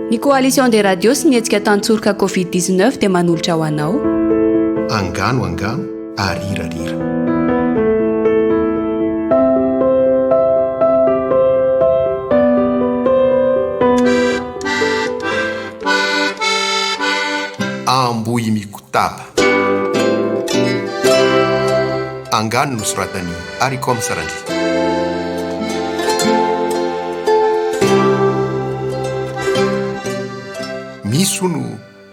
Ny Coalition des Radios sy ny hetsika Tantsoroka Covid 19 dia manolotra ho anao. Angano angano ary rira rira. Ambohimikotaba. Angano no soratan'i Aricom Sarandriana. Misy hono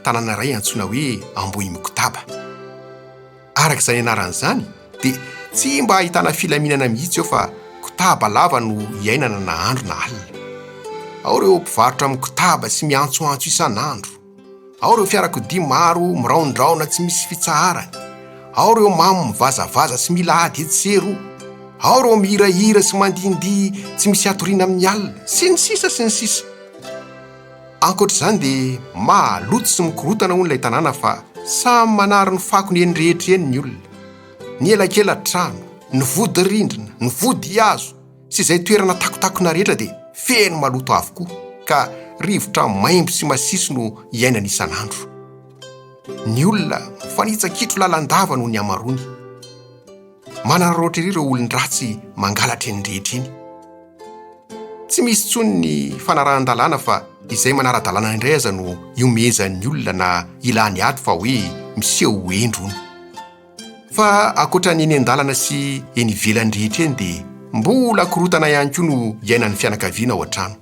tanàna iray antsoina hoe Ambohimikotaba. Araka izany anarany izany dia tsy mba ahitana filaminana mihitsy eo fa kotaba lava no iainana na andro na alina. Ao ireo mpivarotra mikotaba sy miantsoantso isan'andro. Ao ireo fiarakodia maro miraondraona tsy misy fitsaharany, ao ireo mamo mivazavaza sy mila ady etsy sy eroa, ao ireo mihirahira sy mandihindihy tsy misy hatoriana amin'ny alina, sy ny sisa sy ny sisa. Ankoatra izany dia maloto sy mikorotana hono ilay tanàna fa samy manary ny fakony eny rehetra eny ny olona. Ny elakelan-trano, ny vodi-rindrina, ny vodihazo, sy izay toerana takotakona rehetra dia feno maloto avokoa ka rivotra maimbo sy masiso no iainana isan'andro. Ny olona mifanitsa-kitro lalandava noho ny hamaroany. Manararaotra ery ireo olon-dratsy mangalatra eny rehetra eny. Tsy misy intsony ny fanarahan-dalàna fa izay manara-dalàna indray aza no ihomehezan'ny olona na ilany ady fa hoe miseho ho hendry hono. Fa ankoatra ny eny an-dalana sy eny ivelany rehetra eny dia mbola korontana ihany koa no iainan'ny fianakaviana ao an-trano.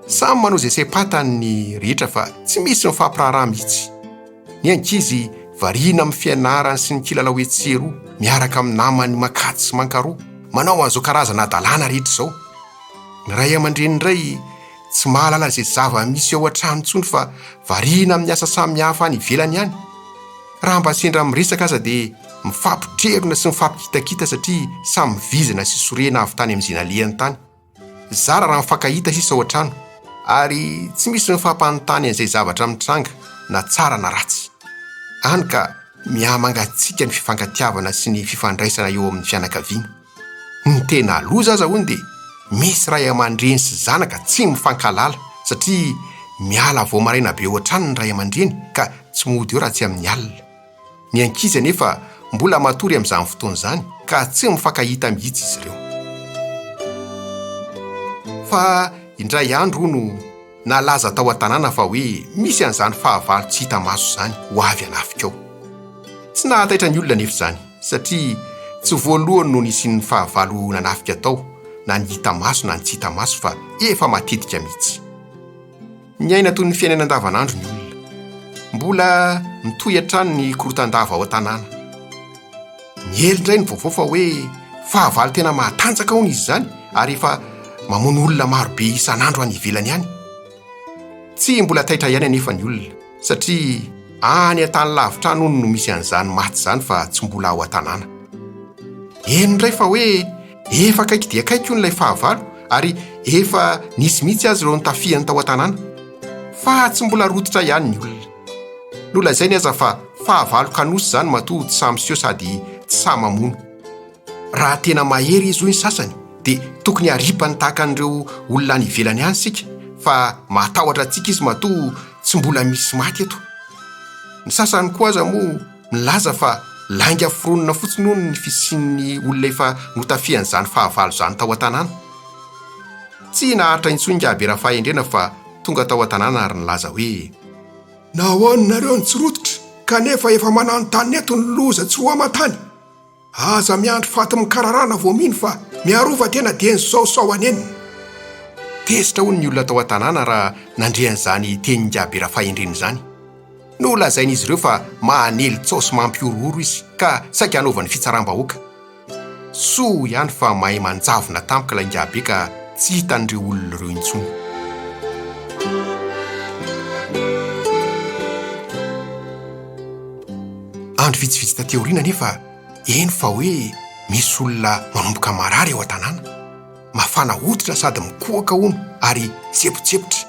Samy manao izay saim-patany ny rehetra fa tsy misy mifampiraharaha mihitsy. Ny ankizy variana amin'ny fianarany sy ny kilalao etsy sy eroa, miaraka amin'ny namany mankatỳ sy mankaroa, manao an'izao karazana hadalana rehetra izao. Ny ray aman-dreny indray tsy mahalala izay zava-misy ao an-trano intsony fa variana amin'ny asa samihafa any ivelany any. Raha mba sendra miresaka aza dia mifampitrerona sy mifampikitakita satria samy vizina sy sorena avy tany amin'ny zinalehany tany. Zara raha mifankahita sisa ao an-trano ary tsy misy mifampanontany an'izay zavatra mitranga na tsara na ratsy. Any ka mihamangatsiaka ny fifankatiavana sy ny fifandraisana eo amin'ny fianakaviana. Ny tena loza aza hono dia misy ray aman-dreny sy zanaka tsy mifankahalala satria miala vao maraina be ohatrany ny ray aman-dreny ka tsy mody eo raha tsy amin'ny alina. Ny ankizy anefa mbola matory amin'izany fotoana izany ka tsy mifankahita mihitsy izy ireo. Fa indray andro hono. Nalaza tao an-tanàna fa hoe misy an'izany fahavalo tsy hita maso izany ho avy hanafika ao. Tsy nahataitra ny olona anefa izany, satria tsy voalohany no nisian'ny fahavalo nanafika tao, na ny hita maso na ny tsy hita maso, fa efa matetika mihitsy. Miaina toy ny fiainana andavanandro ny olona. Mbola mitohy hatrany ny korontan-dava ao an-tanàna. Miely indray ny vaovao fa hoe fahavalo tena mahatanjaka hono izy izany ary efa mamono olona marobe isan'andro any ivelany any. Tsy mbola taitra ihany anefa ny olona satria any an-tany lavitra any hono no misy an'izany maty izany fa tsy mbola ao an-tanàna. Heno indray fa hoe efa akaiky dia akaiky hono ilay fahavalo ary efa nisy mihitsy aza ireo nitafiany tao an-tanàna. Fa tsy mbola rototra ihany ny olona. Nolazainy aza fa fahavalo kanosa izany matoa tsy sahy miseho sady tsy sahy mamono. Raha tena mahery izy hoy ny sasany dia tokony haripany tahaka an'ireo olona any ivelany any isika fa mahatahotra antsika izy matoa tsy mbola misy maty eto. Ny sasany koa aza moa milaza fa lainga foronina fotsiny hono ny fisian'ny olona efa notafihan'izany fahavalo izany tao an-tanàna. Tsy naharitra intsony Ngah be Rafahendrena fa tonga tao an-tanàna ary nilaza hoe, Nahoana ianareo no tsy rototra, kanefa efa mananontany eto ny loza tsy ho aman-tany? Aza miandry fati-mikararana vao mino fa miarova tena dieny izao sao hanenina. Tezitra hono ny olona tao an-tanàna raha nandre an'izany tenin-jabe Rafahendrina izany. Nolazain'izy ireo fa maha-nelintsaosy mampihorohoro izy ka saika hanaovany fitsaram-bahoaka. Soa ihany fa mahay manjavona tampoka ilay ingahibe ka tsy hitan'ireo olona ireo intsony. Andro vitsivitsy taty aoriana anefa heno fa hoe misy olona manomboka marary ao an-tanàna. Mafana hoditra sady mikohaka hono ary tsebotsepotra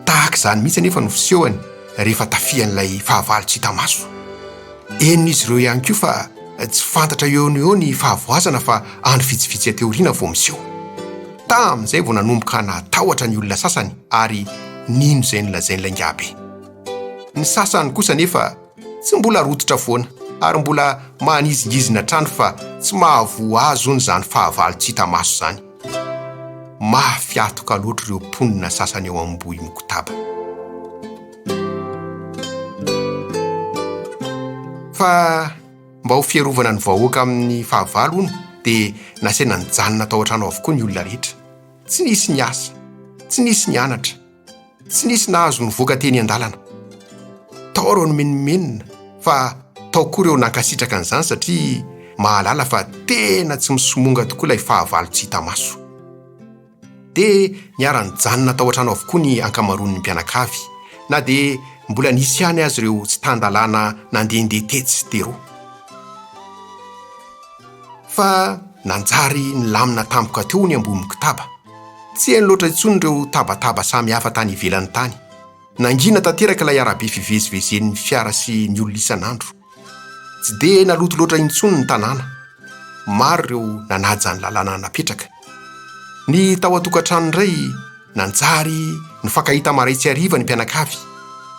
Tahaka izany mihitsy anefa no fisehony rehefa tafihan'ilay fahavalo tsy hita maso. Henon'izy ireo ihany koa fa tsy fantatra eo no eo ny fahavoazana fa andro vitsivitsy aty aoriana vao miseho. Tamin'izay vao nanomboka natahotra ny olona sasany ary nino izay nolazain'ilay ingahibe. Ny sasany kosa anefa tsy mbola rototra foana ary mbola manizingizina hatrany fa tsy mahavoa azy hono izany fahavalo tsy hita maso izany. Mahafiatoka loatra ireo mponina sasany ao Ambohimokotaba. Fa mba ho fiarovana ny vahoaka amin'ny fahavalo hono dia nasaina nijanona tao an-trano avokoa ny olona rehetra. Tsy nisy niasa, tsy nisy nianatra. Tsy nisy nahazo nivoaka teny an-dalana. Tao ireo nimenomenona fa tao koa ireo nankasitraka an'izany satria mahalala fa tena tsy misomonga tokoa ilay fahavalo tsy hita maso. Dia niara-nijanona tao an-trano avokoa ny ankamaroan'ny mpianakavy na dia mbola nisy ihany aza ireo tsy tan-dalàna nandehandeha tetsy sy teroa. fa nanjary nilamina tampoka teo ny ambony kotaba. Tsy heno loatra intsony ireo tabataba samy hafa tany ivelany tany. Nangina tanteraka ilay arabe fivezivezen'ny fiara sy ny olona isan'andro. Tsy dia naloto loatra intsony ny tanàna. Maro ireo nanaja ny lalàna napetraka. Ny tao an-tokantrano indray nanjary nifankahita marain-tsy hariva ny mpianakavy.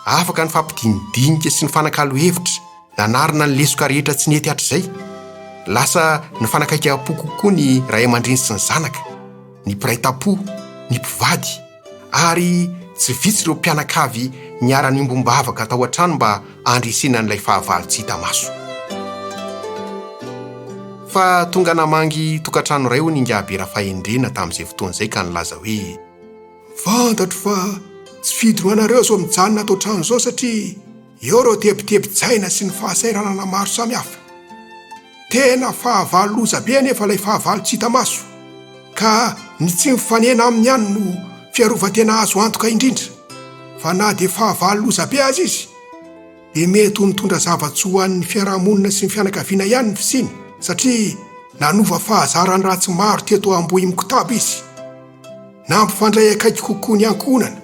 Afaka nifampidinidinika sy nifanakalo hevitra. Nanarina ny lesoka rehetra tsy nety hatrizay. Lasa nifanakaikam-po kokoa ny ray aman-dreny sy ny zanaka, ny mpiray tam-po, ny mpivady, ary tsy vitsy ireo mpianakavy niara-niombom-bavaka tao an-trano mba handresena an'ilay fahavalo tsy hita maso. Fa tonga namangy tokantrano iray hono Ingahabe Rafahendrena tamin'izay fotoana izay ka nilaza hoe, Fantatro fa tsy fidinao anareo izao mijanona ato an-trano izao satria, Eo ireo tebitebin-tsaina sy ny fahasahiranana maro samihafa. Tena fahavalo loza be anefa ilay fahavalo tsy hita maso, ka ny tsy mifanena aminy ihany no fiarovan-tena azo antoka indrindra, fa na dia fahavalo loza be aza izy, dia mety ho nitondra zava-tsoa ho an'ny fiarahamonina sy ny fianakaviana ihany ny fisiany, satria nanova fahazaran ratsy maro teto Ambohimikotaba izy. Nampifandray akaiky kokoa ny ankohonana.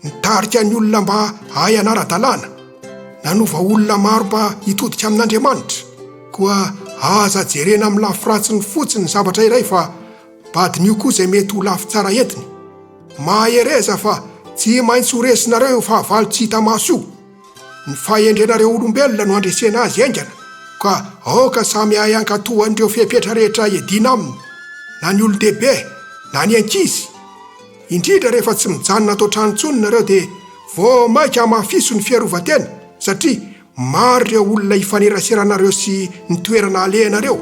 Nitarika ny olona mba hahay hanara-dalàna, nanova olona maro mba hitodika amin'Andriamanitra. Koa aza jerena amin'ny lafy ratsiny fotsiny ny zavatra iray fa badin'io koa izay mety ho lafy tsara entiny. Mahereza fa tsy maintsy ho resinareo io fahavalo tsy hita maso io. Ny fahendrenareo olombelona no handresena azy haingana, ka aoka samy hahay hankatò an'ireo fepetra rehetra iadiana aminy, na ny olon-dehibe na ny ankizy. Indrindra rehefa tsy mijanona ato an-trano intsony nareo dia vao maika hamafiso ny fiarovan-tena satria maro ireo olona hifanerasera anareo sy ny toerana alehanareo.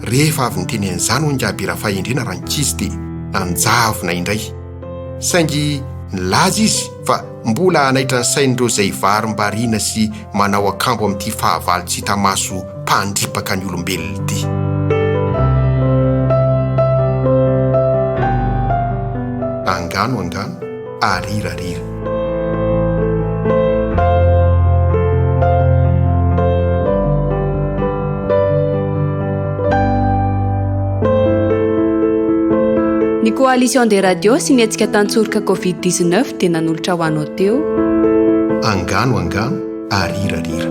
Rehefa avy niteny an'izany hoy Ingaby Rafahendriana Rankizy dia nanjavona indray saingy nilaza izy fa Mbola hanaitra ny sain'ireo izay varimbariana sy manao akambo amin'ity fahavalo tsy hita maso mpandripaka ny olombelona ity. Angano angano, arira rira. Ny Coalition des Radios sy ny hetsika tan-tsoroka Covid 19 Dia nanolotra ho anao teo. Angano angano ary rira rira.